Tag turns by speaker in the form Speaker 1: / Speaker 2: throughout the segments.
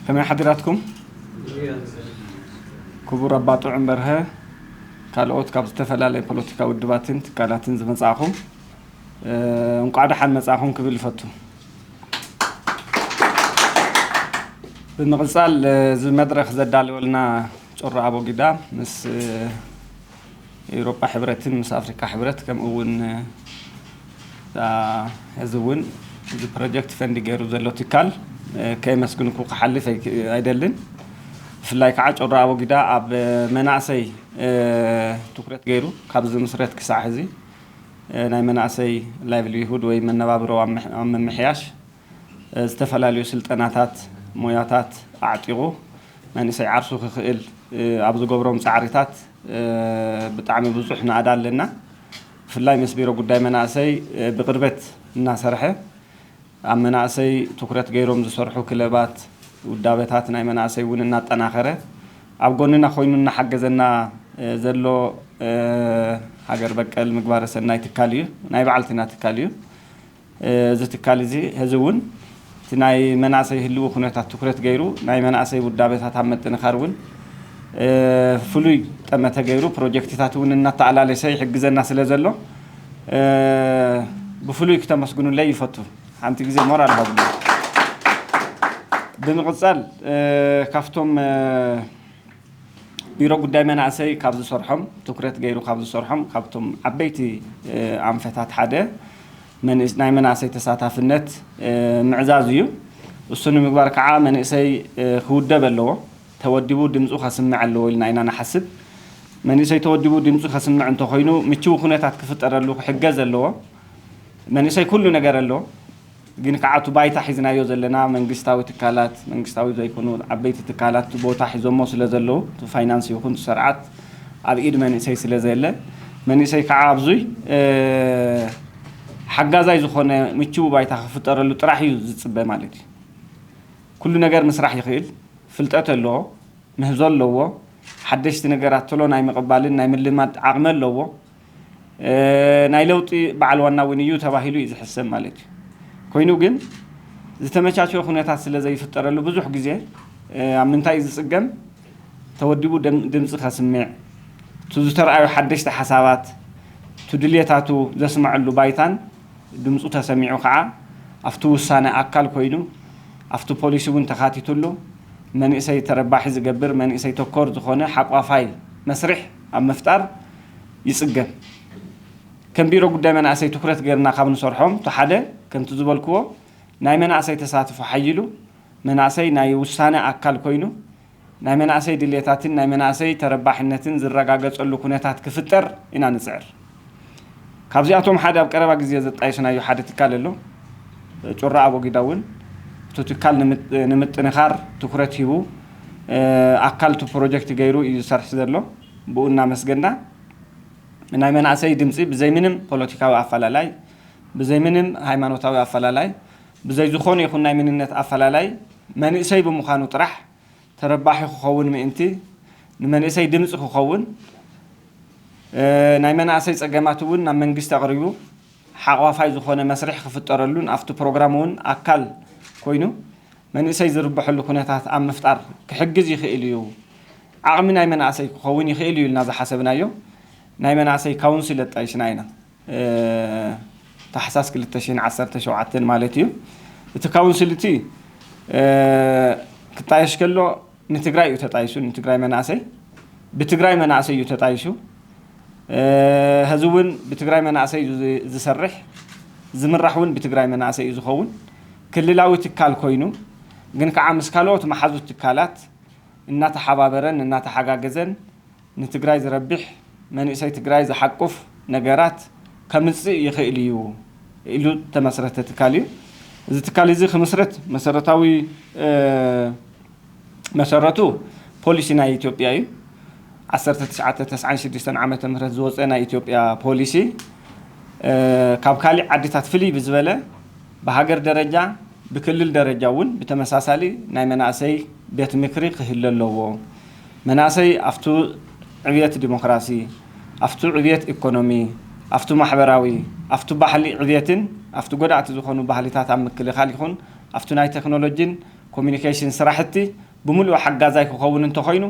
Speaker 1: ከመይ ሓዲራትኩም ክቡር ኣባ ጥዑም በርሀ ካልኦት ካብ ዝተፈላለየ ፖለቲካ ውድባትን ትካላትን ዝመጻእኹም እንቋዕ ደሓን መጻእኹም ክብል ይፈቱ ብምቕጻል እዚ መድረኽ ዘዳለወልና ጮራ ኣቦጊዳ ምስ ኤውሮጳ ሕብረትን ምስ ኣፍሪቃ ሕብረት ከምኡ እውን እታ ሕዚ እውን እዚ ፕሮጀክት ፈንድ ገይሩ ዘሎ ትካል ከየመስግንኩ ክሓልፍ ኣይደልን። ብፍላይ ከዓ ጮራ ኣቦጊዳ ኣብ መናእሰይ ትኩረት ገይሩ ካብ ዝምስረት ክሳዕ ሕዚ ናይ መናእሰይ ላይቭሊሁድ ወይ መነባብሮ ኣብ ምምሕያሽ ዝተፈላለዩ ስልጠናታት ሞያታት ኣዕጢቑ መንእሰይ ዓርሱ ክኽእል ኣብ ዝገብሮም ፃዕሪታት ብጣዕሚ ብዙሕ ናእዳ ኣለና። ብፍላይ ምስ ቢሮ ጉዳይ መናእሰይ ብቕርበት እናሰርሐ ኣብ መናእሰይ ትኩረት ገይሮም ዝሰርሑ ክለባት፣ ውዳበታት ናይ መናእሰይ እውን እናጠናኸረ ኣብ ጎንና ኮይኑ እናሓገዘና ዘሎ ሃገር በቀል ምግባረ ሰናይ ትካል እዩ። ናይ ባዕልትና ትካል እዩ። እዚ ትካል እዚ ሕዚ እውን እቲ ናይ መናእሰይ ህልዊ ኩነታት ትኩረት ገይሩ ናይ መናእሰይ ውዳበታት ኣብ ምጥንኻር እውን ፍሉይ ጠመተ ገይሩ ፕሮጀክትታት እውን እናተኣላለሰ ይሕግዘና ስለ ዘሎ ብፍሉይ ክተመስግኑለይ ይፈቱ። ሓንቲ ግዜ ሞራል ሃቡኒ። ብምቕፃል ካብቶም ቢሮ ጉዳይ መናእሰይ ካብ ዝሰርሖም ትኩረት ገይሩ ካብ ዝሰርሖም ካብቶም ዓበይቲ ኣንፈታት ሓደ ናይ መናእሰይ ተሳታፍነት ምዕዛዝ እዩ። እሱ ንምግባር ከዓ መንእሰይ ክውደብ ኣለዎ። ተወዲቡ ድምፁ ከስምዕ ኣለዎ ኢልና ኢና ንሓስብ። መንእሰይ ተወዲቡ ድምፁ ከስምዕ እንተኾይኑ ምችው ኩነታት ክፍጠረሉ ክሕገዝ ኣለዎ። መንእሰይ ኩሉ ነገር ኣለዎ። ግን ከዓ እቲ ባይታ ሒዝናዮ ዘለና መንግስታዊ ትካላት፣ መንግስታዊ ዘይኮኑ ዓበይቲ ትካላት እቲ ቦታ ሒዞሞ ስለዘለዉ እቲ ፋይናንስ ይኹን እቲ ሰርዓት ኣብ ኢድ መንእሰይ ስለዘየለ መንእሰይ ከዓ ኣብዙይ ሓጋዛይ ዝኾነ ምችዊ ባይታ ክፍጠረሉ ጥራሕ እዩ ዝፅበ ማለት እዩ። ኩሉ ነገር ምስራሕ ይኽእል፣ ፍልጠት ኣለዎ፣ ምህዞ ኣለዎ፣ ሓደሽቲ ነገራት ቶሎ ናይ ምቕባልን ናይ ምልማድ ዓቕሚ ኣለዎ፣ ናይ ለውጢ በዓል ዋና እውን እዩ ተባሂሉ እዩ ዝሕሰብ ማለት እዩ። ኮይኑ ግን ዝተመቻቸወ ኩነታት ስለዘይፍጠረሉ ብዙሕ ግዜ ኣብ ምንታይ እዩ ዝፅገም? ተወዲቡ ድምፂ ከስምዕ፣ እቱ ዝተርኣዩ ሓደሽቲ ሓሳባት፣ እቱ ድልየታቱ ዘስመዐሉ ባይታን ድምፁ ተሰሚዑ ከዓ ኣፍቲ ውሳነ ኣካል ኮይኑ ኣፍቲ ፖሊሲ እውን ተኻቲቱሉ መንእሰይ ተረባሒ ዝገብር መንእሰይ ተኮር ዝኾነ ሓቋፋይ መስርሕ ኣብ ምፍጣር ይፅገም። ከም ቢሮ ጉዳይ መናእሰይ ትኩረት ገይርና ካብ ንሰርሖም እቲ ሓደ ከምቲ ዝበልክዎ ናይ መናእሰይ ተሳትፎ ሓይሉ መናእሰይ ናይ ውሳነ ኣካል ኮይኑ ናይ መናእሰይ ድሌታትን ናይ መናእሰይ ተረባሕነትን ዝረጋገፀሉ ኩነታት ክፍጠር ኢና ንፅዕር። ካብዚኣቶም ሓደ ኣብ ቀረባ ግዜ ዘጣየስናዮ ሓደ ትካል ኣሎ። ጩራ ኣቦጊዳ እውን እቲ ትካል ንምጥንኻር ትኩረት ሂቡ ኣካል እቲ ፕሮጀክት ገይሩ እዩ ዝሰርሕ ዘሎ። ብኡ እናመስገና፣ ናይ መናእሰይ ድምፂ ብዘይ ምንም ፖለቲካዊ ኣፈላላይ፣ ብዘይ ምንም ሃይማኖታዊ ኣፈላላይ፣ ብዘይ ዝኾነ ይኹን ናይ መንነት ኣፈላላይ መንእሰይ ብምዃኑ ጥራሕ ተረባሒ ክኸውን ምእንቲ ንመንእሰይ ድምፂ ክኸውን ናይ መናእሰይ ፀገማት እውን ናብ መንግስቲ ኣቕሪቡ ሓቕፋይ ዝኾነ መስርሕ ክፍጠረሉን ኣብቲ ፕሮግራም እውን ኣካል ኮይኑ መንእሰይ ዝርበሐሉ ኩነታት ኣብ ምፍጣር ክሕግዝ ይኽእል እዩ፣ ዓቕሚ ናይ መናእሰይ ክኸውን ይኽእል እዩ ኢልና ዝሓሰብናዮ ናይ መናእሰይ ካውንስል ኣጣይሽና ኢና፣ ታሕሳስ ክልተ ሽሕን ዓሰርተ ሸውዓተን ማለት እዩ፣ እቲ ካውንስል እቲ ክጣየሽ ከሎ፣ ንትግራይ እዩ ተጣይሱ ንትግራይ መናእሰይ ብትግራይ መናእሰይ እዩ ተጣይሱ ሀዝውን ብትግራይ መናእሰይ እዩ ዝሰርሕ ዝምራሕ እውን ብትግራይ መናእሰይ እዩ ዝኸውን ክልላዊ ትካል ኮይኑ ግን ከዓ ምስ ካልኦት መሓዙት ትካላት እናተሓባበረን እናተሓጋገዘን ንትግራይ ዝረብሕ መንእሰይ ትግራይ ዝሓቁፍ ነገራት ከምፅእ ይኽእል እዩ ኢሉ ዝተመስረተ ትካል እዩ። እዚ ትካል እዚ ክምስረት መሰረታዊ መሰረቱ ፖሊሲ ናይ ኢትዮጵያ እዩ። ዓሰርተ ትሽዓተ ተስዓን ሽዱሽተን ዓመተ ምህረት ዝወፀ ናይ ኢትዮጵያ ፖሊሲ ካብ ካሊእ ዓድታት ፍልይ ብዝበለ ብሃገር ደረጃ ብክልል ደረጃ እውን ብተመሳሳሊ ናይ መናእሰይ ቤት ምክሪ ክህለ ኣለዎ። መናሰይ ኣፍቱ ዕብየት ዲሞክራሲ፣ ኣፍቱ ዕብየት ኤኮኖሚ፣ ኣፍቱ ማሕበራዊ፣ ኣፍቱ ባህሊ ዕብየትን ኣፍቱ ጎዳእቲ ዝኾኑ ባህሊታት ኣብ ምክልኻል ይኹን ኣፍቱ ናይ ቴክኖሎጂን ኮሙኒኬሽን ስራሕቲ ብሙሉኡ ሓጋዛይ ክኸውን እንተኾይኑ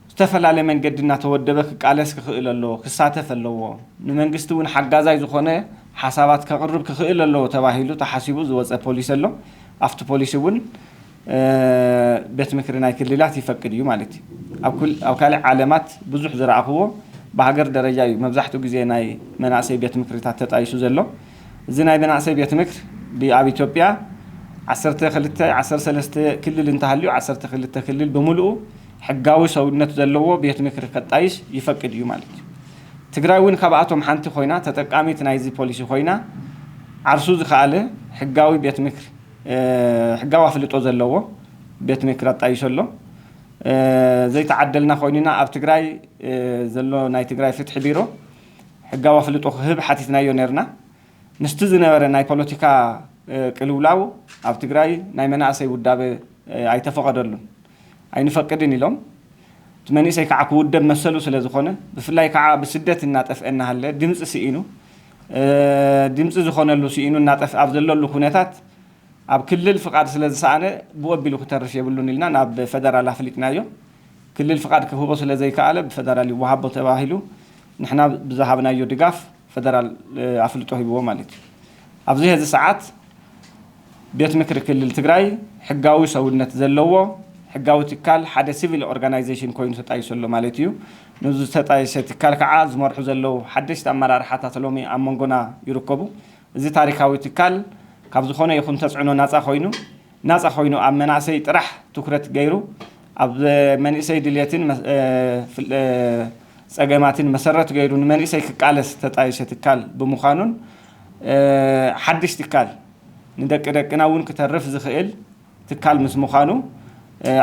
Speaker 1: ብዝተፈላለ መንገዲ እናተወደበ ክቃለስ ክኽእል ኣለዎ፣ ክሳተፍ ኣለዎ፣ ንመንግስቲ እውን ሓጋዛይ ዝኾነ ሓሳባት ከቕርብ ክኽእል ኣለዎ ተባሂሉ ተሓሲቡ ዝወፀ ፖሊሲ ኣሎ። ኣፍቲ ፖሊሲ እውን። ቤት ምክሪ ናይ ክልላት ይፈቅድ እዩ ማለት እዩ ኣብ ካልእ ዓለማት ብዙሕ ዝረኣኽዎ ብሃገር ደረጃ እዩ መብዛሕትኡ ግዜ ናይ መናእሰይ ቤት ምክሪታት ተጣይሱ ዘሎ እዚ ናይ መናእሰይ ቤት ምክር ብኣብ ኢትዮጵያ ዓሰርተ ክልተ ዓሰርተ ሰለስተ ክልል እንተሃልዩ ዓሰርተ ክልተ ክልል ብምልኡ ሕጋዊ ሰውነት ዘለዎ ቤት ምክሪ ከጣይስ ይፈቅድ እዩ ማለት እዩ ትግራይ እውን ካብኣቶም ሓንቲ ኮይና ተጠቃሚት ናይዚ ፖሊሲ ኮይና ዓርሱ ዝኸኣለ ሕጋዊ ቤት ምክሪ ሕጋዊ ኣፍልጦ ዘለዎ ቤት ምክር ኣጣይሾ ኣሎ። ዘይተዓደልና ኮይንና ኣብ ትግራይ ዘሎ ናይ ትግራይ ፍትሒ ቢሮ ሕጋዊ ኣፍልጦ ክህብ ሓቲትናዮ ነይርና። ምስቲ ዝነበረ ናይ ፖለቲካ ቅልውላው ኣብ ትግራይ ናይ መናእሰይ ውዳበ ኣይተፈቐደሉን። ኣይንፈቅድን ኢሎም። እቲ መንእሰይ ከዓ ክውደብ መሰሉ ስለዝኾነ ብፍላይ ከዓ ብስደት እናጠፍኤ እናሃለ ድምፂ ስኢኑ ድምፂ ዝኾነሉ ስኢኑ እናጠፍኣ ኣብ ዘለሉ ኩነታት ኣብ ክልል ፍቓድ ስለዝሰኣነ ብኡ ኣቢሉ ክተርፍ የብሉን ኢልና ናብ ፈደራል ኣፍሊጥናዮ። ክልል ፍቓድ ክህቦ ስለዘይከኣለ ብፈደራል ይወሃቦ ተባሂሉ ንሕና ብዝሃብናዮ ድጋፍ ፈደራል ኣፍልጦ ሂብዎ ማለት እዩ። ኣብዚ ሀዚ ሰዓት። ቤት ምክሪ ክልል ትግራይ ሕጋዊ ሰውነት ዘለዎ ሕጋዊ ትካል ሓደ ሲቪል ኦርጋናይዜሽን ኮይኑ ተጣይሱ ኣሎ ማለት እዩ። ነዚ ዝተጣየሰ ትካል ከዓ ዝመርሑ ዘለው ሓደሽቲ ኣመራርሓታት ሎሚ ኣብ መንጎና ይርከቡ። እዚ ታሪካዊ ትካል ካብ ዝኾነ ይኹን ተፅዕኖ ናፃ ኮይኑ ናፃ ኮይኑ ኣብ መናእሰይ ጥራሕ ትኩረት ገይሩ ኣብ መንእሰይ ድልየትን ፀገማትን መሰረት ገይሩ ንመንእሰይ ክቃለስ ዝተጣየሰ ትካል ብምዃኑን ሓድሽ ትካል ንደቂ ደቅና እውን ክተርፍ ዝኽእል ትካል ምስ ምዃኑ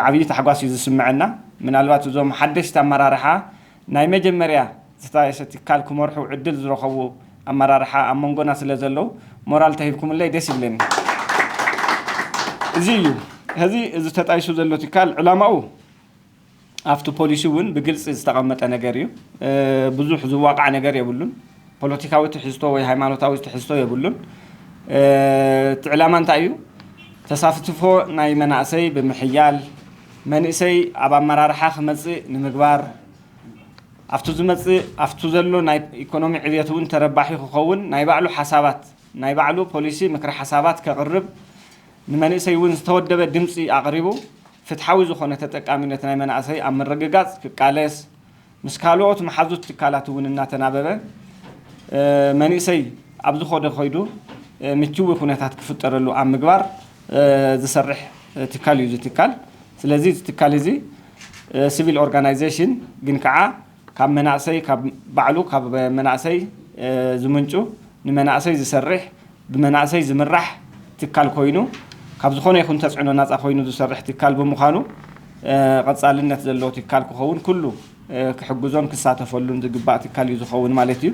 Speaker 1: ዓብዪ ታሕጓስ እዩ ዝስመዐና። ምናልባት እዞም ሓደሽቲ ኣመራርሓ ናይ መጀመርያ ዝተጣየሰ ትካል ክመርሑ ዕድል ዝረኸቡ ኣመራርሓ ኣብ መንጎና ስለ ዘለዉ ሞራል እንተሂብኩምለይ ደስ ይብለኒ። እዚ እዩ ሕዚ እዚ ተጣይሱ ዘሎ ትካል ዕላማኡ። ኣብቲ ፖሊሲ እውን ብግልፂ ዝተቐመጠ ነገር እዩ። ብዙሕ ዝዋቃዕ ነገር የብሉን። ፖለቲካዊ ትሕዝቶ ወይ ሃይማኖታዊ ትሕዝቶ የብሉን። እቲ ዕላማ እንታይ እዩ? ተሳፍትፎ ናይ መናእሰይ ብምሕያል፣ መንእሰይ ኣብ ኣመራርሓ ክመፅእ ንምግባር፣ ኣብቱ ዝመፅእ ኣብቱ ዘሎ ናይ ኢኮኖሚ ዕብየት እውን ተረባሒ ክኸውን ናይ ባዕሉ ሓሳባት ናይ ባዕሉ ፖሊሲ ምክረ ሓሳባት ከቕርብ ንመንእሰይ እውን ዝተወደበ ድምፂ ኣቕሪቡ ፍትሓዊ ዝኾነ ተጠቃሚነት ናይ መናእሰይ ኣብ ምርግጋፅ ክቃለስ ምስ ካልኦት መሓዙት ትካላት እውን እናተናበበ መንእሰይ ኣብ ዝኾደ ከይዱ ምችዊ ኩነታት ክፍጠረሉ ኣብ ምግባር ዝሰርሕ ትካል እዩ እዚ ትካል። ስለዚ እዚ ትካል እዚ ስቪል ኦርጋናይዜሽን ግን ከዓ ካብ መናእሰይ ካብ ባዕሉ ካብ መናእሰይ ዝምንጩ ንመናእሰይ ዝሰርሕ ብመናእሰይ ዝምራሕ ትካል ኮይኑ ካብ ዝኾነ ይኹን ተፅዕኖ ናፃ ኮይኑ ዝሰርሕ ትካል ብምዃኑ ቐፃልነት ዘለዎ ትካል ክኸውን ኩሉ ክሕግዞን ክሳተፈሉን ዝግባእ ትካል እዩ ዝኸውን ማለት እዩ።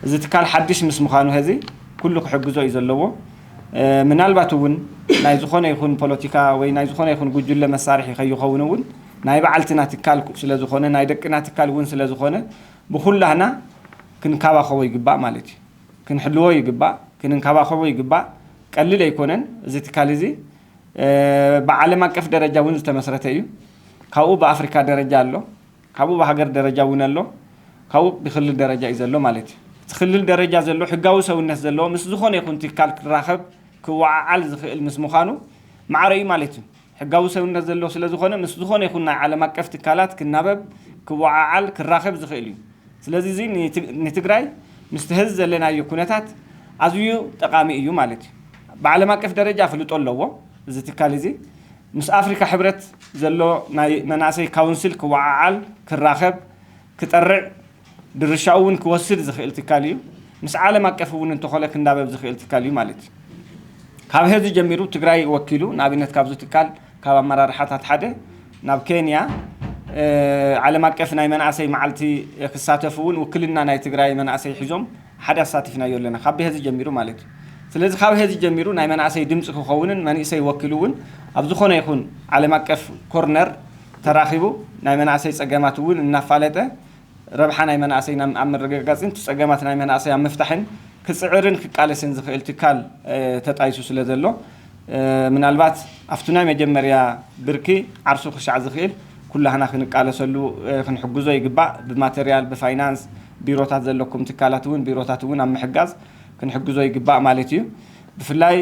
Speaker 1: እዚ ትካል ሓዱሽ ምስ ምዃኑ ሀዚ ኩሉ ክሕግዞ እዩ ዘለዎ። ምናልባት እውን ናይ ዝኾነ ይኹን ፖለቲካ ወይ ናይ ዝኾነ ይኹን ጉጅለ መሳርሒ ከይኸውን እውን ናይ ባዓልትና ትካል ስለ ዝኾነ ናይ ደቅና ትካል ውን ስለ ዝኾነ ብኹላህና ክንካባኸቦ ይግባእ ማለት እዩ። ክንሕልዎ ይግባእ ክንንካባኸቦ ይግባእ ቀልል ኣይኮነን እዚ ትካል እዚ ብዓለም ኣቀፍ ደረጃ ውን ዝተመስረተ እዩ ካብኡ ብኣፍሪካ ደረጃ ኣሎ ካብኡ ብሃገር ደረጃ ውን ኣሎ ካብኡ ብክልል ደረጃ እዩ ዘሎ ማለት እዩ። እቲ ክልል ደረጃ ዘሎ ሕጋዊ ሰውነት ዘለዎ ምስ ዝኾነ ይኹን ትካል ክራኸብ ክወዓዓል ዝኽእል ምስ ምዃኑ ማዕረ እዩ ማለት እዩ። ሕጋዊ ሰብነት ዘለዎ ስለ ዝኾነ ምስ ዝኾነ ይኹን ናይ ዓለም ኣቀፍ ትካላት ክናበብ፣ ክወዓዓል፣ ክራኸብ ዝኽእል እዩ። ስለዚ እዚ ንትግራይ ምስቲ ሀዚ ዘለናዮ ኩነታት ኣዝዩ ጠቓሚ እዩ ማለት እዩ። ብዓለም ኣቀፍ ደረጃ ኣፍልጦ ኣለዎ እዚ ትካል እዚ። ምስ ኣፍሪካ ሕብረት ዘሎ ናይ መናእሰይ ካውንስል ክወዓዓል፣ ክራኸብ፣ ክጠርዕ ድርሻኡ እውን ክወስድ ዝኽእል ትካል እዩ። ምስ ዓለም ኣቀፍ እውን እንተኾነ ክናበብ ዝኽእል ትካል እዩ ማለት እዩ። ካብ ሐዚ ጀሚሩ ትግራይ ወኪሉ ንኣብነት ካብዚ ትካል ካብ ኣመራርሓታት ሓደ ናብ ኬንያ ዓለም ኣቀፍ ናይ መናእሰይ መዓልቲ ክሳተፍ እውን ውክልና ናይ ትግራይ መናእሰይ ሒዞም ሓደ ኣሳቲፍናዮ ኣለና ካብ ሐዚ ጀሚሩ ማለት እዩ። ስለዚ ካብ ሐዚ ጀሚሩ ናይ መናእሰይ ድምፂ ክኸውንን መንእሰይ ወኪሉ እውን ኣብ ዝኾነ ይኹን ዓለም ኣቀፍ ኮርነር ተራኺቡ ናይ መናእሰይ ፀገማት እውን እናፋለጠ ረብሓ ናይ መናእሰይ ኣብ ምርግጋፅን ፀገማት ናይ መናእሰይ ኣብ ምፍታሕን ክፅዕርን ክቃለስን ዝኽእል ትካል ተጣይሱ ስለዘሎ ምናልባት ኣብቲ ናይ መጀመርያ ብርኪ ዓርሱ ክሻዕ ዝኽእል ኩላህና ክንቃለሰሉ ክንሕግዞ ይግባእ። ብማተርያል፣ ብፋይናንስ፣ ቢሮታት ዘለኩም ትካላት እውን ቢሮታት እውን ኣብ ምሕጋዝ ክንሕግዞ ይግባእ ማለት እዩ። ብፍላይ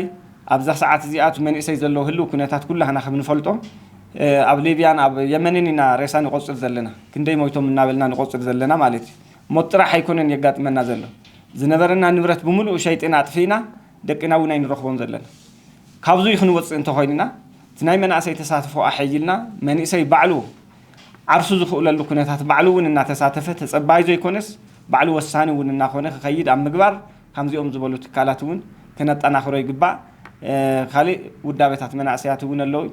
Speaker 1: ኣብዛ ሰዓት እዚኣ እቲ መንእሰይ ዘለዎ ህልው ኩነታት ኩላህና ከምንፈልጦ ኣብ ሊብያን ኣብ የመንን ኢና ሬሳ ንቆጽር ዘለና ክንደይ ሞይቶም እናበልና ንቆጽር ዘለና ማለት እዩ ሞት ጥራሕ ኣይኮነን የጋጥመና ዘሎ ዝነበረና ንብረት ብምሉኡ ሸይጥና ኣጥፊእና ደቅና ውን ኣይንረኽቦም ዘለና ካብዙይ ክንወጽእ እንተኾይንና እቲ ናይ መናእሰይ ተሳትፎ ኣሐይልና መንእሰይ ባዕሉ ዓርሱ ዝኽእለሉ ኩነታት ባዕሉ ውን እናተሳተፈ ተጸባይ ዘይኮነስ ባዕሉ ወሳኒ ውን እናኾነ ክኸይድ ኣብ ምግባር ካምዚኦም ዝበሉ ትካላት ውን ከነጠናኽሮ ይግባእ ካሊእ ውዳቤታት መናእሰያት እውን ኣለው።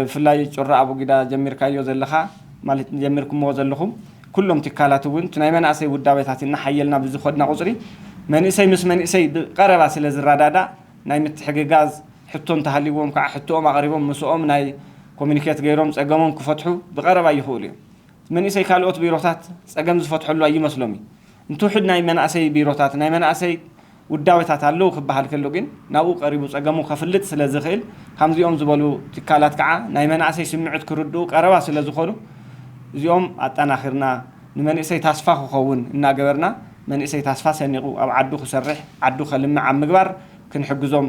Speaker 1: ብፍላይ ጩራ ኣቡጊዳ ጀሚርካዮ ዘለኻ ማለት ጀሚርኩምዎ ዘለኹም ኩሎም ትካላት እውን እቲ ናይ መናእሰይ ውዳቤታት እናሓየልና ብዝኸድና ቁፅሪ መንእሰይ ምስ መንእሰይ ብቀረባ ስለዝረዳዳእ ናይ ምትሕግጋዝ ሕቶ እንተሃልይዎም ከዓ ሕቶኦም ኣቕሪቦም ምስኦም ናይ ኮሚኒኬት ገይሮም ፀገሞም ክፈትሑ ብቀረባ ይኽእሉ እዮም። እቲ መንእሰይ ካልኦት ቢሮታት ፀገም ዝፈትሐሉ ኣይመስሎም እዩ። እንትውሕድ ናይ መናእሰይ ቢሮታት ናይ መናእሰይ ውዳበታት ኣለዉ ክበሃል ከሎ ግን ናብኡ ቀሪቡ ጸገሙ ከፍልጥ ስለ ዝኽእል፣ ከምዚኦም ዝበሉ ትካላት ከኣ ናይ መናእሰይ ስምዕት ክርድኡ ቀረባ ስለ ዝኾኑ እዚኦም ኣጠናኺርና ንመንእሰይ ታስፋ ክኸውን እናገበርና መንእሰይ ታስፋ ሰኒቑ ኣብ ዓዱ ክሰርሕ ዓዱ ከልምዕ ኣብ ምግባር ክንሕግዞም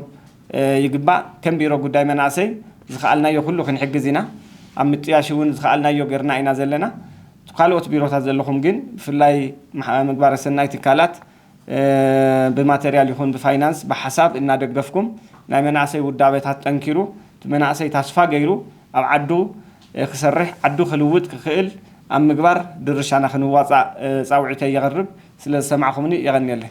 Speaker 1: ይግባእ። ከም ቢሮ ጉዳይ መናእሰይ ዝኸኣልናዮ ኩሉ ክንሕግዝ ኢና። ኣብ ምጥያሽ እውን ዝኸኣልናዮ ገርና ኢና ዘለና። ካልኦት ቢሮታት ዘለኹም ግን ብፍላይ ምግባረ ሰናይ ትካላት ብማተርያል ይኹን ብፋይናንስ ብሓሳብ እናደገፍኩም ናይ መናእሰይ ውዳበታት ጠንኪሩ እቲ መናእሰይ ታስፋ ገይሩ ኣብ ዓዱ ክሰርሕ ዓዱ ክልውጥ ክኽእል ኣብ ምግባር ድርሻና ክንዋፃእ ፃውዒተይ የቕርብ። ስለ ዝሰማዕኹምኒ የቐንየለይ።